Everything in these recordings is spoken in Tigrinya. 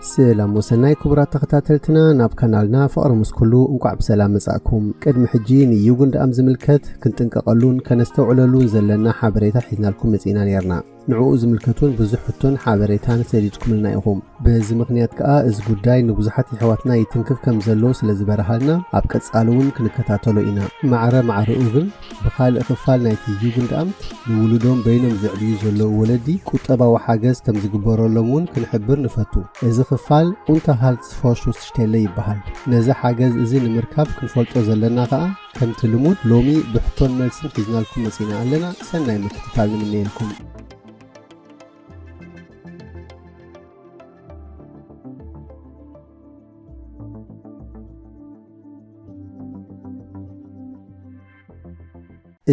ሰላም ወሰናይ ክቡራት ተኸታተልትና ናብ ካናልና ፍቕሪ ምስ ኩሉ እንቋዕ ብሰላም መጻእኩም። ቅድሚ ሕጂ ንዩጉንድ ኣም ዝምልከት ክንጥንቀቐሉን ከነስተውዕለሉን ዘለና ሓበሬታ ሒዝናልኩም መጺእና ነይርና። ንዕኡ ዝምልከቱን ብዙሕ ሕቶን ሓበሬታን ሰዲድኩምልና ኢኹም። በዚ ምኽንያት ከኣ እዚ ጉዳይ ንብዙሓት የሕዋትና ይትንክፍ ከም ዘሎ ስለ ዝበርሃልና ኣብ ቀጻሊ እውን ክንከታተሎ ኢና። ማዕረ ማዕረኡ ግን ብኻልእ ክፋል ናይቲ ቪድዮ ድኣ ንውሉዶም በይኖም ዘዕብዩ ዘለዉ ወለዲ ቁጠባዊ ሓገዝ ከም ዝግበረሎም እውን ክንሕብር ንፈቱ። እዚ ክፋል Unterhaltsvorschussstelle ይበሃል። ነዚ ሓገዝ እዚ ንምርካብ ክንፈልጦ ዘለና ከኣ ከምቲ ልሙድ ሎሚ ብሕቶን መልስን ሒዝናልኩም መጺእና ኣለና። ሰናይ ምክትታል ንምነየልኩም።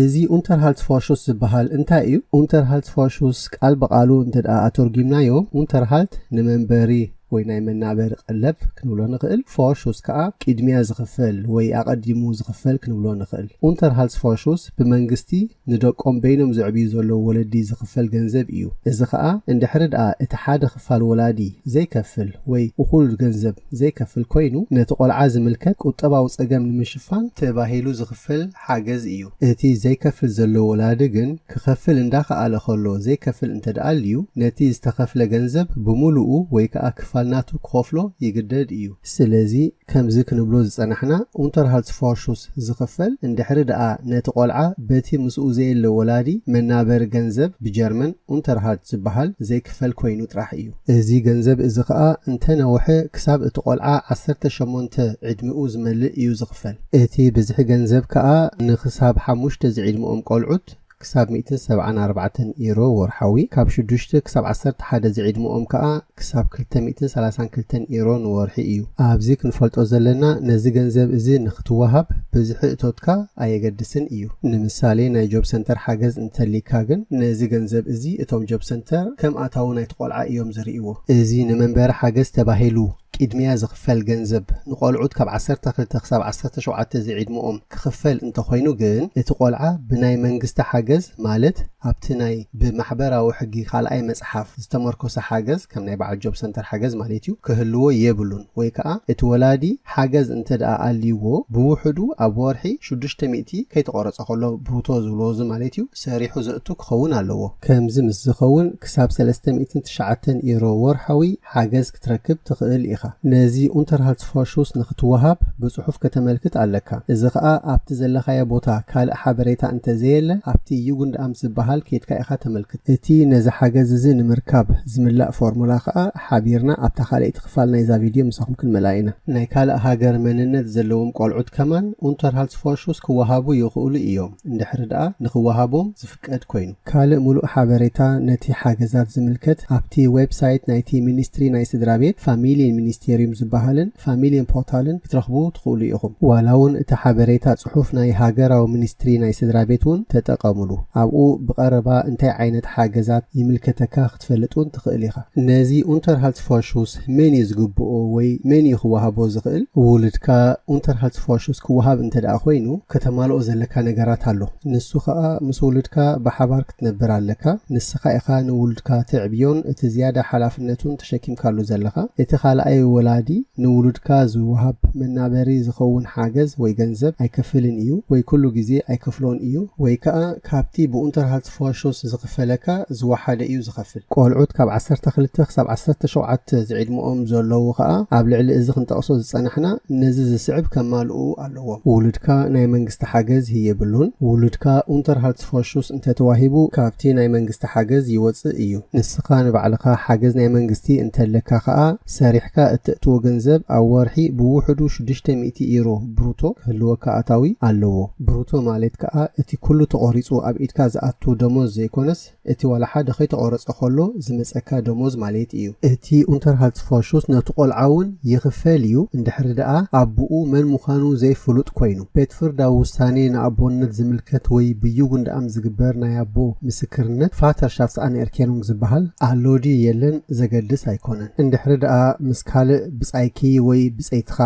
እዚ ኡንተርሃልትፎርሹስ ዝበሃል እንታይ እዩ? ኡንተርሃልትፎርሹስ ቃል ብቓሉ እንተ ደኣ ኣተርጒምናዮ ኡንተርሃልት ንመንበሪ ወይ ናይ መናበሪ ቀለብ ክንብሎ ንኽእል፣ ፎርሹስ ከኣ ቅድሚያ ዝኽፈል ወይ ኣቐዲሙ ዝኽፈል ክንብሎ ንኽእል። ኡንተርሃልትፎርሹስ ብመንግስቲ ንደቆም በይኖም ዘዕብዩ ዘለዉ ወለዲ ዝኽፈል ገንዘብ እዩ። እዚ ከኣ እንድሕሪ ደኣ እቲ ሓደ ክፋል ወላዲ ዘይከፍል ወይ እኹል ገንዘብ ዘይከፍል ኮይኑ ነቲ ቆልዓ ዝምልከት ቁጠባዊ ጸገም ንምሽፋን ተባሂሉ ዝኽፈል ሓገዝ እዩ። እቲ ዘይከፍል ዘሎ ወላዲ ግን ክኸፍል እንዳኸኣለ ከሎ ዘይከፍል እንተደኣ ኣልዩ ነቲ ዝተኸፍለ ገንዘብ ብምሉኡ ወይ ከኣ ክፋል ናቱ ክኸፍሎ ይግደድ እዩ። ስለዚ ከምዚ ክንብሎ ዝጸናሕና ኡንተርሃልትስፎርሹስ ዝኽፈል እንድሕሪ ደኣ ነቲ ቆልዓ በቲ ምስኡ ዘየለ ወላዲ መናበሪ ገንዘብ ብጀርመን ኡንተርሃልት ዝበሃል ዘይክፈል ኮይኑ ጥራሕ እዩ። እዚ ገንዘብ እዚ ከኣ እንተ ነውሐ ክሳብ እቲ ቆልዓ ዓሰርተ ሸሞንተ ዕድሚኡ ዝመልእ እዩ ዝኽፈል። እቲ ብዝሒ ገንዘብ ከኣ ንክሳብ ሓሙሽተ ዝዒድመኦም ቆልዑት ክሳብ ሚእትን ሰብዓን ኣርባዕተን ኢሮ ወርሓዊ፣ ካብ ሽዱሽተ ክሳብ ዓሰርተ ሓደ ዝዒድመኦም ከኣ ክሳብ ክልተ ሚእትን ሰላሳን ክልተን ኢሮ ንወርሒ እዩ። ኣብዚ ክንፈልጦ ዘለና ነዚ ገንዘብ እዚ ንክትወሃብ ብዝሒ እቶትካ ኣየገድስን እዩ። ንምሳሌ ናይ ጆብ ሰንተር ሓገዝ እንተልይካ ግን ነዚ ገንዘብ እዚ እቶም ጆብ ሰንተር ከም ኣታዊ ናይቲ ቆልዓ እዮም ዝርእይዎ። እዚ ንመንበሪ ሓገዝ ተባሂሉ ቂድሚያ ዝኽፈል ገንዘብ ንቆልዑት ካብ ዓሰርተ ክልተ ክሳብ ዓሰርተ ሸውዓተ ዝዒድምኦም ክኽፈል እንተኾይኑ ግን እቲ ቆልዓ ብናይ መንግስቲ ሓገዝ ማለት ኣብቲ ናይ ብማሕበራዊ ሕጊ ካልኣይ መጽሓፍ ዝተመርኮሰ ሓገዝ ከም ናይ በዓል ጆብ ሰንተር ሓገዝ ማለት እዩ ክህልዎ የብሉን ወይ ከኣ እቲ ወላዲ ሓገዝ እንተደኣ ኣልይዎ ብውሕዱ ኣብ ወርሒ ሽዱሽተ ሚእቲ ከይተቆረጸ ከሎ ብሩቶ ዝብልዎ እዚ ማለት እዩ ሰሪሑ ዘእቱ ክኸውን ኣለዎ። ከምዚ ምስ ዝኸውን ክሳብ ሰለስተ ሚእትን ትሽዓተን ኢሮ ወርሓዊ ሓገዝ ክትረክብ ትኽእል ኢኻ። ነዚ Unterhaltsvorschuss ንኽትወሃብ ብጽሑፍ ከተመልክት ኣለካ። እዚ ኸኣ ኣብቲ ዘለኻዮ ቦታ ካልእ ሓበሬታ እንተ ዘየለ ኣብቲ Jugendamt ዝበሃል ኬድካ ኢኻ ተመልክት። እቲ ነዚ ሓገዝ እዚ ንምርካብ ዝምላእ ፎርሙላ ኸኣ ሓቢርና ኣብታ ካልኣይቲ ክፋል ናይዛ ቪድዮ ምሳኹም ክንመልኣ ኢና። ናይ ካልእ ሃገር መንነት ዘለዎም ቆልዑት ከማን Unterhaltsvorschuss ክወሃቡ ይኽእሉ ኢዮም፣ እንድሕሪ ደኣ ንኽወሃቦም ዝፍቀደሎም ኩነታት እንተልዩ። ቅድ ኮይኑ። ካልእ ምሉእ ሓበሬታ ነቲ ሓገዛት ዝምልከት ኣብቲ ዌብ ሳይት ናይቲ ሚኒስትሪ ናይ ስድራቤት፣ ፋሚልየን ሚኒስቴርዩም ዝበሃልን ፋሚልየን ፖርታልን ክትረኽቡ ትኽእሉ ኢኹም። ዋላውን እቲ ሓበሬታ ጽሑፍ ናይ ሃገራዊ ሚኒስትሪ ናይ ስድራቤት እውን ተጠቐምሉ፣ ኣብኡ ብቐረባ እንታይ ዓይነት ሓገዛት ይምልከተካ ክትፈልጥ እውን ትኽእል ኢኻ። ነዚ ኡንተርሃልትስፎርሹስ መን እዩ ዝግብኦ ወይ መን እዩ ክወሃቦ ዝኽእል? ውሉድካ ኡንተርሃልትስፎርሹስ ክወሃብ እንተድኣ ኮይኑ ከተማልኦ ዘለካ ነገራት ኣሎ። ንሱ ኸኣ ምስ ውሉድካ ብሓባር ክትነብር ኣለካ። ንስኻ ኢኻ ንውሉድካ ተዕብዮን እቲ ዝያዳ ሓላፍነቱን ተሸኪምካሉ ዘለኻ። እቲ ካልኣይ ወላዲ ንውሉድካ ዝወሃብ መናበሪ ዝኸውን ሓገዝ ወይ ገንዘብ ኣይከፍልን እዩ ወይ ኩሉ ግዜ ኣይከፍሎን እዩ ወይ ከኣ ካብቲ ብኡንተርሃልትስፎርሹስ ፎርሾስ ዝኽፈለካ ዝወሓደ እዩ ዝኸፍል። ቆልዑት ካብ ዓሰርተ ክልተ ክሳብ ዓሰርተ ሸውዓተ ዝዒድመኦም ዘሎዉ ከኣ ኣብ ልዕሊ እዚ ክንጠቕሶ ዝጸናሕና ነዚ ዝስዕብ ከማልኡ ኣሎዎም። ውሉድካ ናይ መንግስቲ ሓገዝ ህየብሉን። ውሉድካ ኡንተርሃልትስፎርሹስ እንተ ተዋሂቡ ካብቲ ናይ መንግስቲ ሓገዝ ይወጽእ እዩ። ንስኻ ንባዕልኻ ሓገዝ ናይ መንግስቲ እንተለካ ከኣ ሰሪሕካ እተእትዎ ገንዘብ ኣብ ወርሒ ብውሕዱ ሽዱሽተ ሚእቲ ዩሮ ብሩቶ ክህልወካ ኣታዊ ኣለዎ። ብሩቶ ማለት ከኣ እቲ ኩሉ ተቖሪጹ ኣብ ኢድካ ዝኣቱ ደሞዝ ዘይኮነስ እቲ ዋላ ሓደ ከይተቖረጸ ከሎ ዝመጸካ ደሞዝ ማለት እዩ። እቲ ኡንተርሃልትስፎሹስ ነቲ ቆልዓ እውን ይኽፈል እዩ፣ እንድሕሪ ደኣ ኣቡኡ መን ምዃኑ ዘይፍሉጥ ኮይኑ። ቤትፍርዳዊ ውሳኔ ንኣቦነት ዝምልከት ወይ ብዩግንድኣም ዝግበር ናይ ኣቦ ምስክርነት፣ Vaterschaftsanerkennung፣ ዝበሃል ኣሎ ድዩ የለን ዘገድስ ኣይኮነን። እንድሕሪ ደኣ ምስ ካልእ ብጻይኪ ወይ ብጸይትኻ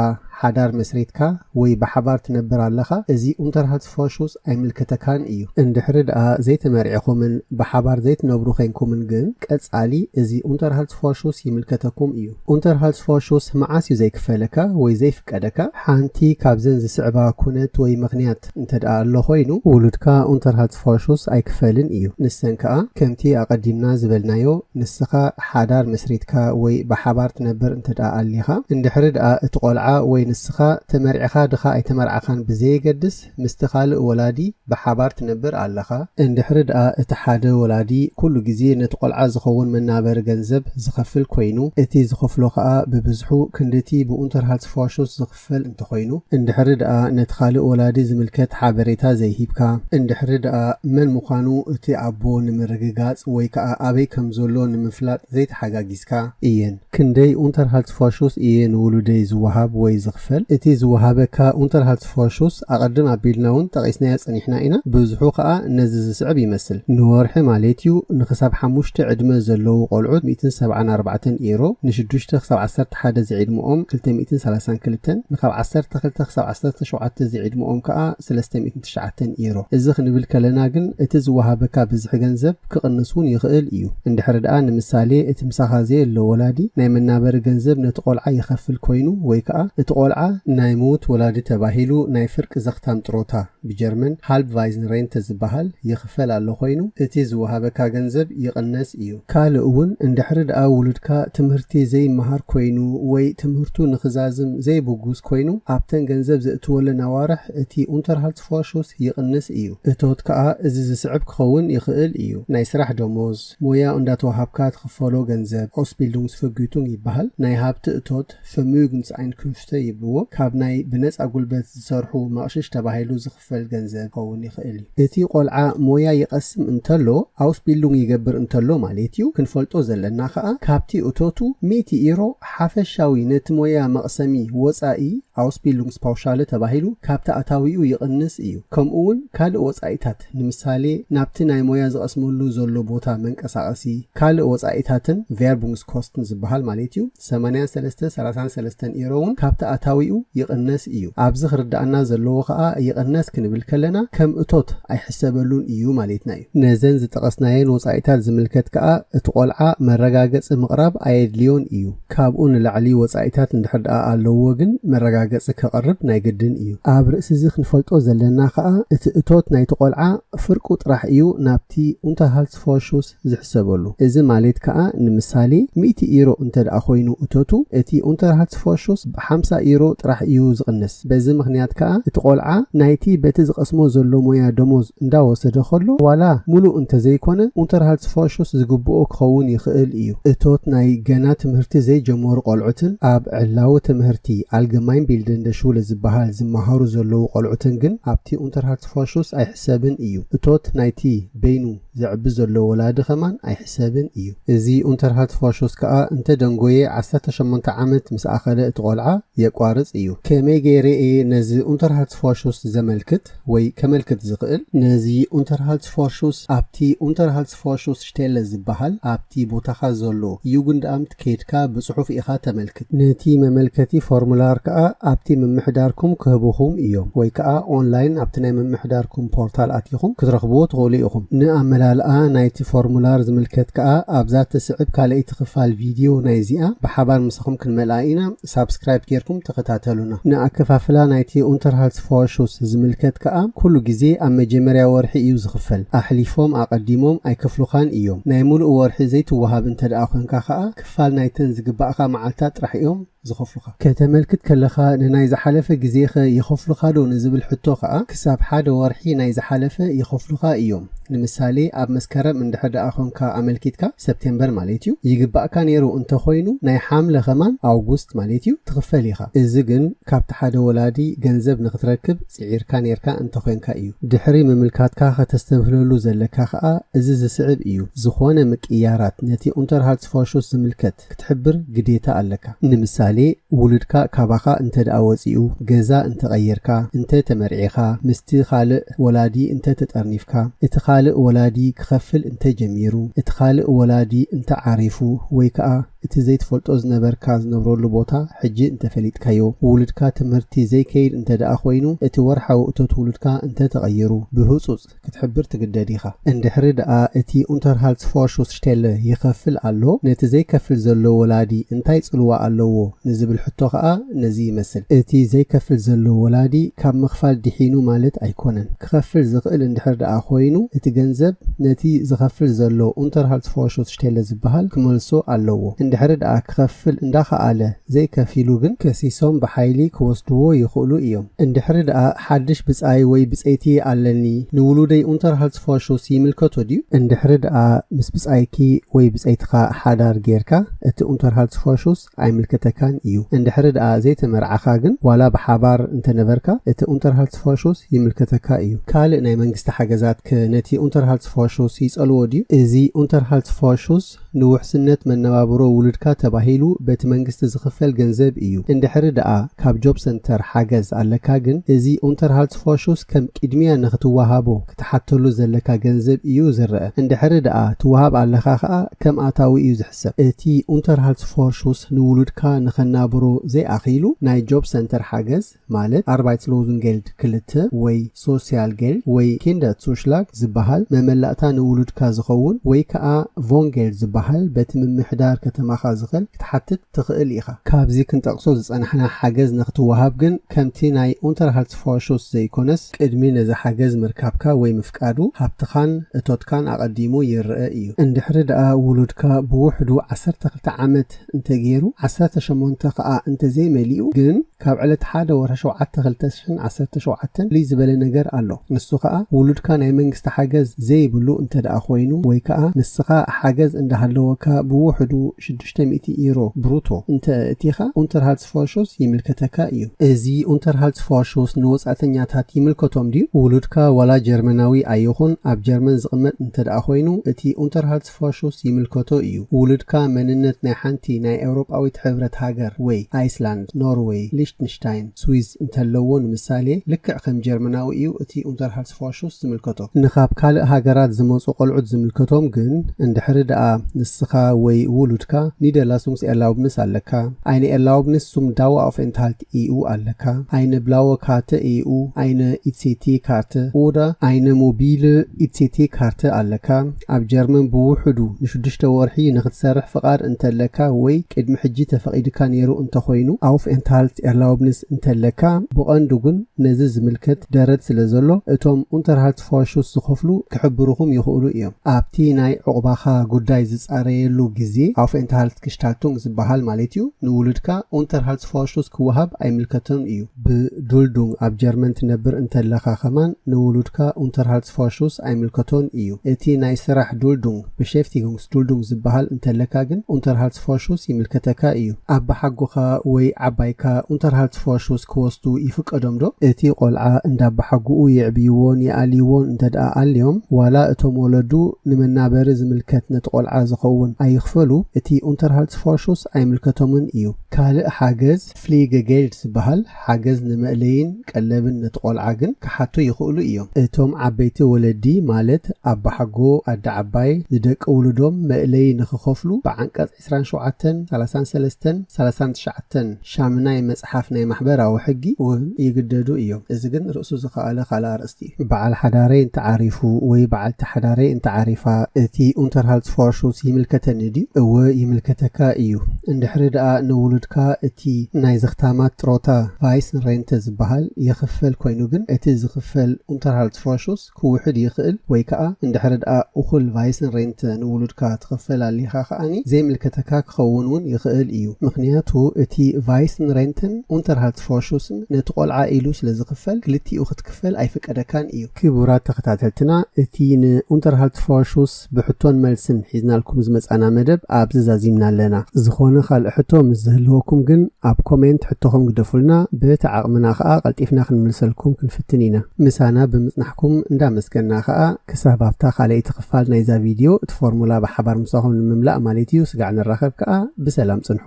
ሓዳር መስሪትካ ወይ ብሓባር ትነብር ኣለኻ፣ እዚ Unterhaltsvorschuss ኣይምልከተካን እዩ። እንድሕሪ ደኣ ዘይተመርዒኹምን ብሓባር ዘይትነብሩ ዄንኩምን ግን ቀጻሊ እዚ Unterhaltsvorschuss ይምልከተኩም እዩ። Unterhaltsvorschuss መዓስ እዩ ዘይክፈለካ ወይ ዘይፍቀደካ? ሓንቲ ካብዘን ዝስዕባ ኩነት ወይ ምኽንያት እንተድኣ ኣሎ ኮይኑ፣ ውሉድካ Unterhaltsvorschuss ኣይክፈልን እዩ። ንሰን ከኣ ከምቲ ኣቐዲምና ዝበልናዮ፣ ንስኻ ሓዳር መስሪትካ ወይ ብሓባር ትነብር እንተድኣ ኣሊኻ፣ እንድሕሪ ድኣ እቲ ቆልዓ ወይ ንስኻ ተመርዕኻ ድኻ ኣይተመርዓኻን ብዘየገድስ፣ ማለት ምስቲ ካልእ ወላዲ ብሓባር ትነብር ኣለኻ፣ እንድሕሪ ድኣ እቲ ሓደ ወላዲ ኩሉ ግዜ ነቲ ቆልዓ ዝኸውን መናበሪ ገንዘብ ዝኸፍል ኮይኑ፣ እቲ ዝኸፍሎ ከኣ ብብዝሑ ክንድቲ ብኡንተርሃልትስፎርሹስ ዝኽፈል እንተኾይኑ፣ እንድሕሪ ድኣ ነቲ ካልእ ወላዲ ዝምልከት ሓበሬታ ዘይሂብካ፣ እንድሕሪ ድኣ መን ምዃኑ እቲ ኣቦ ንምርግጋጽ ወይ ከኣ ኣበይ ከም ዘሎ ንምፍላጥ ዘይተሓጋጊዝካ፣ እየን። ክንደይ ኡንተርሃልትስፎርሹስ እየ ንውሉደይ ዝወሃብ ወይ ዝኽፈል? እቲ ዝወሃበካ ኡንተርሃልትስፎርሹስ ኣቐድም ኣቢልናውን ጠቒስናዮ ጸኒሕና ኢና፣ ብዝሑ ከኣ ነዚ ዝስዕብ ይመስል፣ ንወርሒ ማሌት'ዩ፣ ንክሳብ ሓሙሽተ ዕድመ ዘለዉ ቆልዑት ሚእትን ሰብዓን ኣርባዕተን ኤሮ፣ ንሽዱሽተ ክሳብ ዓሰርተ ሓደ ዝዒድመኦም ክልተ ሚእትን ሰላሳን ክልተን፣ ንካብ ዓሰርተ ክልተ ክሳብ ዓሰርተ ሸውዓተ ዝዒድመኦም ከኣ ስለስተ ሚእትን ትሽዓተን ኤሮ። እዚ ክንብል ከለና ግን እቲ ዝወሃበካ ብዝሒ ገንዘብ፣ ክቕንስ ውን ይኽእል ኢዩ። እንድሕሪ ድኣ ንምሳሌ እቲ ምሳኻ ዘየሎ ወላዲ ናይ መናበሪ ገንዘብ ነቲ ቆልዓ ይኸፍል ኮይኑ ወይ ከኣ እቲ ቆልዓ፣ ናይ ምዉት ወላዲ ተባሂሉ ናይ ፍርቂ ዘኽታም ጥሮታ፣ ብጀርመን፣ Halbweisen Rente፣ ዝበሃል ይኽፈል ኣሎ ኮይኑ እቲ ዝወሃበካ ገንዘብ ይቕነስ ኢዩ። ካልእ ውን እንድሕሪ ድኣ ዉሉድካ ትምህርቲ ዘይመሃር ኮይኑ ወይ ትምህርቱ ንኽዛዝም ዘይብጉስ ኮይኑ ኣብተን ገንዘብ ዘእትወለን ኣዋርሕ እቲ፣ Unterhaltsvorbereitung፣ ፕሮሹስ ይቕንስ እዩ። እቶት ከኣ እዚ ዝስዕብ ክኸውን ይኽእል እዩ፣ ናይ ስራሕ ደሞዝ፣ ሞያ እንዳተወሃብካ ትኽፈሎ ገንዘብ፣ Ausbildungsvergütung፣ ይበሃል፣ ናይ ሃብቲ እቶት፣ Vermögensenkünfte፣ ይብልዎ፣ ካብ ናይ ብነጻ ጉልበት ዝሰርሑ መቕሽሽ ተባሂሉ ዝኽፈል ገንዘብ ክኸውን ይኽእል እዩ። እቲ ቆልዓ ሞያ ይቐስም እንተሎ፣ Ausbildung፣ ይገብር እንተሎ ማሌት እዩ፣ ክንፈልጦ ዘለና ከኣ ካብቲ እቶቱ ሚእቲ ኢሮ፣ ሓፈሻዊ ነቲ ሞያ መቕሰሚ ወጻኢ፣ Ausbildungspauschale፣ ተባሂሉ ካብቲ ኣታዊኡ ይቕንስ እዩ፣ ከምኡ'ውን ካልእ ወጻኢታት፣ ንምሳሌ ናብቲ ናይ ሞያ ዝቐስመሉ ዘሎ ቦታ መንቀሳቐሲ፣ ካልእ ወጻኢታትን፣ Werbungskosten፣ ዝበሃል ማለት እዩ፣ ሰማንያን ሰለስተ ሰላሳን ሰለስተን ኢሮ እውን ካብቲ ኣታዊኡ ይቕነስ እዩ። ኣብዚ ክርደኣና ዘለዎ ከኣ ይቕነስ ክንብል ከለና ከም እቶት ኣይሕሰበሉን እዩ ማሌትና እዩ። ነዘን ዝጠቐስናየን ወጻኢታት ዝምልከት ከኣ እቲ ቆልዓ መረጋገጺ ምቕራብ ኣየድልዮን እዩ። ካብኡ ንላዕሊ ወጻኢታት እንድሕር ደኣ ኣለዉዎ ግን መረጋገጺ ከቕርብ ናይ ግድን እዩ። ኣብ ርእሲዚ ክንፈልጦ ዘለና ከኣ እቲ እቶት ናይቲ ቆልዓ ፍርቁ ጥራሕ እዩ ናብቲ Unterhaltsvorschuss ዝሕሰበሉ። እዚ ማሌት ከኣ ንምሳሌ ሚእቲ ኢሮ እንተደኣ ኮይኑ እቶቱ እቲ Unterhaltsvorschuss ብሓምሳ ኢሮ ጥራሕ እዩ ዝቕንስ። በዚ ምኽንያት ከኣ እቲ ቆልዓ ናይቲ በቲ ዝቐስሞ ዘሎ ሞያ ደሞዝ እንዳወሰደ ከሎ ዋላ ሙሉእ እንተዘይኮነ Unterhaltsvorschuss ዝግብኦ ክኸውን ይኽእል ኢዩ። እቶት ናይ ገና ትምህርቲ ዘይጀመሩ ቆልዑትን ኣብ ዕላዊ ትምህርቲ Allgemeinbildende Schule ዝበሃል ዝመሃሩ ዘለዉ ቆልዑትን ግን ኣብቲ Unterhaltsvorschuss ኣይሕሰብን ኢዩ። እቶት ናይቲ በይኑ ዘዕቢ ዘሎ ወላዲ ከማን ኣይሕሰብን እዩ። እዚ ኡንተርሃልት ፋሾስ ከኣ እንተ ደንጎየ ዓሰርተ ሸሞንተ ዓመት ምስ ኣኸለ እቲ ቆልዓ የቋርጽ እዩ። ከመይ ገይረ እየ ነዚ ኡንተርሃልት ፋሾስ ዘመልክት ወይ ከመልክት ዝኽእል? ነዚ ኡንተርሃልት ፋሾስ ኣብቲ Unterhaltsvorschussstelle ዝበሃል ኣብቲ ቦታኻ ዘሎ Jugendamt ኬድካ ብጽሑፍ ኢኻ ተመልክት። ነቲ መመልከቲ ፎርሙላር ከኣ ኣብቲ ምምሕዳርኩም ክህቡኹም እዮም ወይ ከኣ ኦንላይን ኣብቲ ናይ ምምሕዳርኩም ፖርታል ኣቲኹም ክትረኽብዎ ትኽእሉ ኢኹም። ንኣመላልኣ ናይቲ ፎርሙላር ዝምልከት ከኣ ኣብዛ እትስዕብ ካልኣይቲ ክፋል ቪድዮ ናይዚኣ ብሓባር ምሳኹም ክንመልኣ ኢና። ሳብስክራይብ ጌርኩም ተኸታተሉና። ንኣከፋፍላ ናይቲ ኡንተርሃልትስፎርሹስ ዝምልከት ከኣ ኩሉ ግዜ ኣብ መጀመርያ ወርሒ እዩ ዝኽፈል። ኣሕሊፎም፣ ኣቐዲሞም፣ ኣይከፍሉኻን እዮም። ናይ ምሉእ ወርሒ ዘይትወሃብ እንተደኣ ኮንካ ከኣ ክፋል ናይተን ዝግባእካ መዓልታት ጥራሕ እዮም ዝኸፍሉኻ። ከተመልክት ከለኻ ንናይ ዝሓለፈ ግዜኸ ይኸፍሉኻዶ ንዝብል ሕቶ ከኣ ክሳብ ሓደ ወርሒ ናይ ዝሓለፈ ይኸፍሉኻ እዮም። ንምሳሌ ኣብ መስከረም እንድሕር ደኣ ኮንካ ኣመልኪትካ፣ ሰፕቴምበር ማለት እዩ፣ ይግባእካ ነይሩ እንተ ኾይኑ ናይ ሓምለ ከማን፣ ኣውጉስት ማለት እዩ፣ ትኽፈል ኢኻ። እዚ ግን ካብቲ ሓደ ወላዲ ገንዘብ ንኽትረክብ ጽዒርካ ነይርካ እንተ ኾንካ እዩ። ድሕሪ ምምልካትካ ከተስተብህለሉ ዘለካ ከኣ እዚ ዝስዕብ እዩ፣ ዝኾነ ምቅይያራት ነቲ ኡንተርሃልትስፎርሹስ ዝምልከት፣ ነገራት ክትሕብር ግዴታ ኣለካ። ንምሳሌ ውሉድካ ካባኻ እንተድኣ ወጺኡ፣ ገዛ እንተቐይርካ፣ እንተ ተመርዒኻ፣ ምስቲ ካልእ ወላዲ እንተ ተጠርኒፍካ፣ እቲ ካልእ ወላዲ ክኸፍል እንተ ጀሚሩ፣ እቲ ካልእ ወላዲ እንተ ዓሪፉ ወይ ከኣ እቲ ዘይትፈልጦ ዝነበርካ ዝነብረሉ ቦታ ሕጂ እንተ ፈሊጥካዮ፣ ውሉድካ ትምህርቲ ዘይከይድ እንተድኣ ኮይኑ፣ እቲ ወርሓዊ እቶት ውሉድካ እንተ ተቐይሩ፣ ብህጹጽ። ፕሮጀክት ክትሕብር ትግደድ ኢኻ። እንድሕሪ ደኣ እቲ ኡንተርሃልትስፎርሹስሽቴለ ይኸፍል ኣሎ፣ ነቲ ዘይከፍል ዘሎ ወላዲ እንታይ ጽልዋ ኣለዎ ንዝብል ሕቶ ከኣ ነዚ ይመስል። እቲ ዘይከፍል ዘሎ ወላዲ ካብ ምኽፋል ድሒኑ ማለት ኣይኮነን። ክኸፍል ዝኽእል እንድሕር ደኣ ኮይኑ እቲ ገንዘብ ነቲ ዝኸፍል ዘሎ ኡንተርሃልትስፎርሹስሽቴለ ዝበሃል ክመልሶ ኣለዎ። እንድሕሪ ደኣ ክኸፍል እንዳኸኣለ ዘይከፊሉ ግን ከሲሶም ብሓይሊ ክወስድዎ ይኽእሉ እዮም። እንድሕሪ ደኣ ሓድሽ ብጻይ ወይ ብጸይቲ ኣለኒ ንውሉደይ ኡንተርሃልትስፎርሹስ ይምልከቶ ድዩ? እንድሕሪ ደኣ ምስ ብጻይኪ ወይ ብጸይትኻ ሓዳር ጌርካ፣ እቲ ኡንተርሃልትስፎርሹስ ኣይምልከተካን እዩ። እንድሕሪ ደኣ ዘይተመርዓኻ ግን፣ ዋላ ብሓባር እንተነበርካ፣ እቲ ኡንተርሃልትስፎርሹስ ይምልከተካ እዩ። ካልእ ናይ መንግስቲ ሓገዛትከ ነቲ ኡንተርሃልትስፎርሹስ ይጸልዎ ድዩ? እዚ ኡንተርሃልትስፎርሹስ፣ ደሞዝ ንውሕስነት መነባብሮ ውሉድካ ተባሂሉ በቲ መንግስቲ ዝኽፈል ገንዘብ እዩ። እንድሕሪ ደኣ ካብ ጆብ ሰንተር ሓገዝ ኣለካ ግን እዚ ኡንተርሃልትስፎሹስ ከም ቂድሚያ ንኽትወሃቦ ክትሓተሉ ዘለካ ገንዘብ እዩ ዝረኣ። እንድሕሪ ደኣ ትወሃብ ኣለኻ ከኣ ከም ኣታዊ እዩ ዝሕሰብ። እቲ ኡንተርሃልትስፎሹስ ንውሉድካ ንኸናብሮ ዘይኣኺሉ ናይ ጆብ ሰንተር ሓገዝ፣ ማለት ኣርባይትስሎዝንጌልድ ክልተ ወይ ሶስያልጌልድ ወይ ኪንደትሱሽላግ ዝበሃል መመላእታ ንውሉድካ ዝኸውን ወይ ከኣ ቮንጌልድ ዝበሃል በቲ ምምሕዳር ከተማኻ ዝኸል ክትሓትት ትኽእል ኢኻ። ካብዚ ክንጠቕሶ ዝጸናሕና ሓገዝ ንኽትወሃብ ግን ከምቲ ናይ ኡንተርሃልትስፎርሹስ ዘይኮነስ ቅድሚ ነዚ ሓገዝ ምርካብካ ወይ ምፍቃዱ ሃብትኻን እቶትካን ኣቐዲሙ ይርኣ እዩ። እንድሕሪ ደኣ ውሉድካ ብውሕዱ ዓሰርተ ክልተ ዓመት እንተገይሩ ዓሰርተ ሸሞንተ ከኣ እንተዘይመሊኡ ግን፣ ካብ ዕለት ሓደ ወርሒ ሸውዓተ ክልተ ሽሕን ዓሰርተ ሸውዓተን ፍልይ ዝበለ ነገር ኣሎ ንሱ ከኣ ውሉድካ ናይ መንግስቲ ሓገዝ ዘይብሉ እንተደኣ ኮይኑ ወይ ከኣ ንስኻ ሓገዝ እንዳሃለወካ ብውሕዱ ሽዱሽተ ሚእቲ ኢሮ ብሩቶ እንተ እእቲኻ ኡንተርሃልትስፎርሹስ ይምልከተካ እዩ። እዚ ኡንተርሃልትስፎርሹስ ንወጻእተኛታት ይምልከቶም ድዩ? ውሉድካ ዋላ ጀርመናዊ ኣይኹን ኣብ ጀርመን ዝቕመጥ እንተደኣ ኮይኑ እቲ ኡንተርሃልትስፎርሹስ ፋሹስ ይምልከቶ እዩ። ውሉድካ መንነት ናይ ሓንቲ ናይ ኤውሮጳዊት ሕብረት ሃገር ወይ ኣይስላንድ፣ ኖርወይ፣ ሊሽትንሽታይን፣ ስዊዝ እንተለዎ ንምሳሌ፣ ልክዕ ከም ጀርመናዊ እዩ እቲ ኡንተርሃልስፋሹስ ዝምልከቶ። ንካብ ካልእ ሃገራት ዝመጹ ቆልዑት ዝምልከቶም ግን እንድሕሪ ደኣ ንስኻ ወይ ውሉድካ ኒደርላሱንግስ ኤርላውብንስ ኣለካ፣ ኣይነ ኤርላውብንስ ሱም ዳዋ ኣፍ ኤንትሃልት፣ ኢኡ ኣለካ ኣይነ ብላወ ካርተ ኢኡ ኣይነ ኢትሴቴ ካርተ ኦዳ ኣይነ ሞቢለ ኢትሴቴ ካርተ ኣለካ ኣብ ጀርመን ብውሑዱ ንሽዱሽተ ወርሒ ንክትሰርሕ ፍቃድ እንተለካ ወይ ቅድሚ ሕጂ ተፈቂድካ ኔሩ እንተኮይኑ ኣውፍኤንትሃልት ኤርላውብንስ እንተለካ ብቀንዱ ግን ነዚ ዝምልከት ደረት ስለዘሎ እቶም ኡንተርሃልት ፋሹስ ዝኸፍሉ ክሕብሩኹም ይኽእሉ እዮም። ኣብቲ ናይ ዑቕባኻ ጉዳይ ዝጻረየሉ ግዜ፣ Aufenthaltsgestaltung፣ ዝበሃል ማለት'ዩ፣ ንውሉድካ Unterhaltsvorschuss ክወሃብ ኣይምልከቶን እዩ። ብዱልዱንግ ኣብ ጀርመን ትነብር እንተለኻ ከማን ንውሉድካ Unterhaltsvorschuss ኣይምልከቶን እዩ። እቲ ናይ ስራሕ ዱልዱንግ፣ Beschäftigungs Duldung ዝበሃል እንተለካ ግን Unterhaltsvorschuss ይምልከተካ እዩ። ኣባሓጎኻ ወይ ዓባይካ Unterhaltsvorschuss ክወስዱ ይፍቀዶም ዶ? እቲ ቆልዓ እንዳ ኣባሓጉኡ የዕብይዎን ይኣልይዎን እንተድኣ ኣልዮም ዋላ እቶም ወለዱ ንመናበሪ ዝምልከት ነቲ ቆልዓ ዝኸውን ኣይኽፈሉ እቲ Unterhaltsvorschuss ኣይምልከቶምን እዩ። ካልእ ሓገዝ። ፍሊገጌልድ ዝበሃል ሓገዝ ንመእለይን ቀለብን ነቲ ቆልዓ ግን ክሓቱ ይኽእሉ እዮም። እቶም ዓበይቲ ወለዲ ማለት ኣባሓጎ፣ ኣደ ዓባይ፣ ንደቂ ውሉዶም መእለዪ ንኽኸፍሉ ብዓንቀጽ ዕስራን ሸውዓተን፣ ሰላሳን ሰለስተን፣ ሰላሳን ትሽዓተን ሻምናይ መጽሓፍ ናይ ማሕበራዊ ሕጊ እውን ይግደዱ እዮም። እዚ ግን ርእሱ ዝኸኣለ ካልእ ኣርእስቲ እዩ። በዓል ሓዳረይ እንተ ዓሪፉ ወይ በዓልቲ ሓዳረይ እንተ ዓሪፋ እቲ ኡንተርሃልትስፋርሹት ይምልከተኒ ድዩ? እወ ይምልከተካ ኢዩ። እንድሕሪ ደኣ ንውሉድካ እቲ ናይ ዘኽታማት ጥሮታ፣ Waisenrente፣ ዝበሃል ይኽፈል ኮይኑ ግን እቲ ዝኽፈል ኡንተርሃልትስፋርሹት ክውሕድ ይኽእል ወይ ከኣ እንድሕሪ ደኣ እኹል Waisenrente ንውሉድካ ትኽፈል ኣሊኻ ከኣ ዘይምልከተካ ክኸውን ውን ይኽእል ኢዩ ምኽንያቱ እቲ Waisenrenten ኡንተርሃልትስፋርሹስን ነቲ ቆልዓ ኢሉ ስለ ዝኽፈል ክልቲኡ ክትከፈል ኣይፍቀደካን እዩ። ክቡራት ተኸታተልትና እቲ ን Unterhaltvorschuss ብሕቶን መልስን ሒዝናልኩም ዝመጻና መደብ ኣብዚ ዛዚምና ኣለና። ዝኾነ ካልእ ሕቶ ምስ ዝህልወኩም ግን ኣብ ኮሜንት ሕቶኹም ግደፉልና በቲ ዓቕምና ከኣ ቀልጢፍና ክንምልሰልኩም ክንፍትን ኢና። ምሳና ብምጽናሕኩም እንዳመስገና ከኣ ክሳብ ኣብታ ካልኣይቲ ክፋል ናይዛ ቪድዮ እቲ ፎርሙላ ብሓባር ምሳኹም ንምምላእ ማለት እዩ ስጋዕ ንራኸብ ከኣ ብሰላም ጽንሑ።